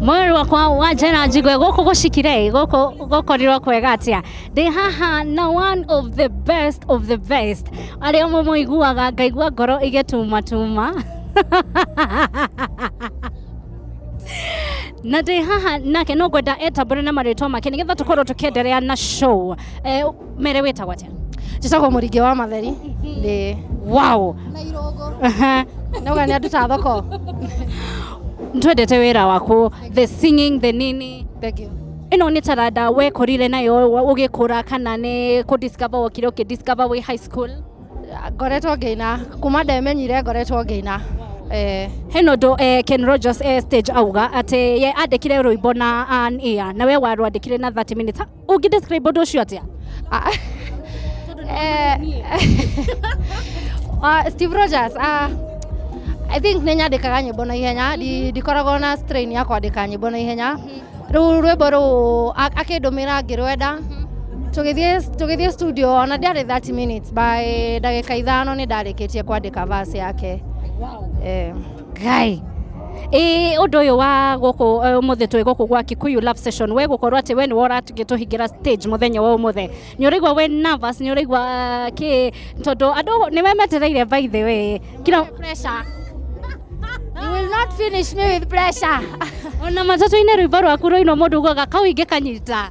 mwĩrĩ wakwa wa njĩra njigwe gũkũ gũcikire gũkũ gũkorirwo kwega atĩa ndĩ haha na one of the best of the best arĩa ũmwe mũiguaga ngaigua ngoro igĩtumatuma na ndĩ haha nake no ngwenda etambũre na marĩtwa make nĩgetha tũkorwo tũkĩenderea na show eh, mere wĩtagwo atĩa njĩtagwo mũringĩ wa matheri ndĩ wow na irũngũ Aha. nauga nĩ anduta thoko twendete wĩra waku the singing the nini thank you ĩno nĩ taranda wekorire nayo wa- ũgĩkũra kana nĩ kũ discover wokire ũkĩ discover wĩ high school ngoretwo ngĩina kuma ndemenyire ngoretwo ngĩina eh, heno ndo eh, ken rogers eh, stage auga atĩ ye andĩkire rũimbo na an ear na we warwandĩkire na 30 minutes ũngĩ describe ũndũ ũcio atĩa Ah, eh, ah, steve rogers ah, i think nĩ nyandĩkaga nyĩmbo na ihenya Ndi- ndikoragwo na strain ya kwandĩka nyĩmbo na ihenya rĩu rwĩmbo rũu a- akĩndũmĩra ngĩrwenda tũgĩthiĩ tũgĩthiĩ studio ona ndiarĩ 30 minutes by ndagĩka ithano nĩ ndarĩkĩtie kwandĩka verse yake eh. Guy. Ĩ ũndũ ũyũ wa gũkũ eh, ũmũthĩ twĩ gũkũ gwa Kikuyu Love Session wĩ gũkorwo atĩ we nĩ wora tũhingĩra stage mũthenya wa ũmũthĩ nĩ ũraigua wĩ nervous nĩ ũraigua ah, kĩ tondũ andũ nĩ we metereire by the way kila pressure. You will not finish me with pressure. ona matatũ-inĩ rwĩmbo rwaku rũinwo mũndũ ugaga kau ingĩ kanyita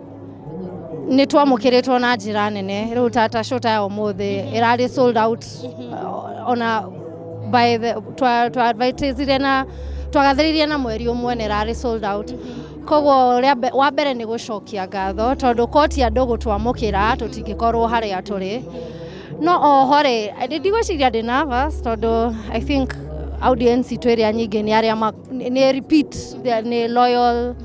nä twamå two na njä ra nene rä u tata shota ya å må thä ä rarä sold out uh, ona by the twa twa advertisire na twagathĩrĩirie na mweri ũmwe nĩ rarĩ sold out koguo rĩa mbe- wa mbere nĩ gũcokia ngatho tondũ koti andũ gũtwamũkĩra tũtingĩkorwo harĩa tũrĩ no oho rĩ ndĩ- ndigwĩciria ndĩ nervous tondũ i think audience itũ ĩrĩa nyingĩ nĩ arĩa ma- nĩ nĩ repeat they're- nĩ loyal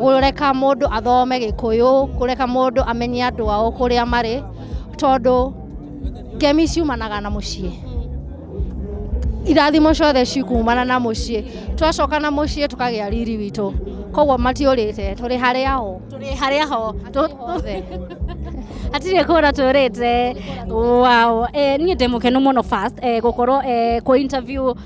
kũreka mũndũ athome gĩkũyũ kũreka mũndũ amenye andũ ao kũrĩa marĩ tondũ ngemi ciumanaga na mũciĩ irathimo ciothe cikumana na mũciĩ twacoka na mũciĩ tũkagĩa riri witũ koguo matiũrĩte tũrĩ harĩa ho tũrĩ harĩa ho othe hatirĩ kũra tũrĩte wow eh, niĩ ndĩ mũkenu mũno first eh, gũkorwo eh, kũ interview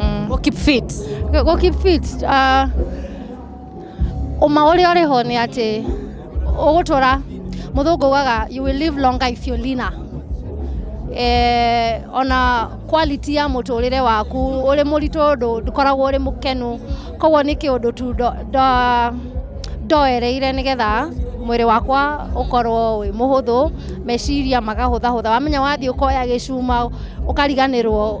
Mm. Go keep fit. Go- Go keep fit. Uh, ũma ũrĩa ũrĩ ho nĩ atĩ ũgũtũra mũthũngũ ugaga you will live longer if you're leaner. Eh, ona quality ya mũtũrĩre waku ũrĩ mũritũ ndũ- ndũkoragwo ũrĩ mũkenu koguo nĩ kĩũndũ tu ndo- ndo- ndoereire nĩgetha mwĩrĩ wakwa ũkorwo wĩ mũhũthũ meciria magahũthahũtha wamenya wathiĩ ũkoya gĩcuma ũkariganĩrwo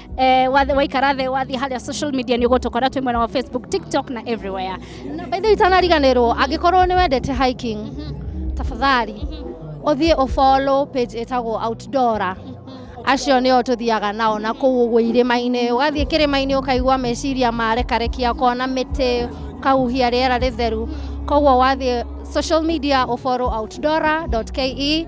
eh, wathi- waikara thĩ wathiĩ harĩa social media nĩ ũgũtũkora twĩ mwena wa facebook tiktok na everywhere na by the way itanariganĩrwo angĩkorwo nĩ wendete hiking tafadhali ũthiĩ ũfollow page ĩtagwo outdoora acio nĩo tũthiaga nao na kũu ũguo irĩma-inĩ ũgathiĩ kĩrĩma-inĩ ũkaigua meciria marekarekia ũkona mĩtĩ ũkahuhia rĩera rĩtheru koguo wathiĩ social media ũfollow outdoora.ke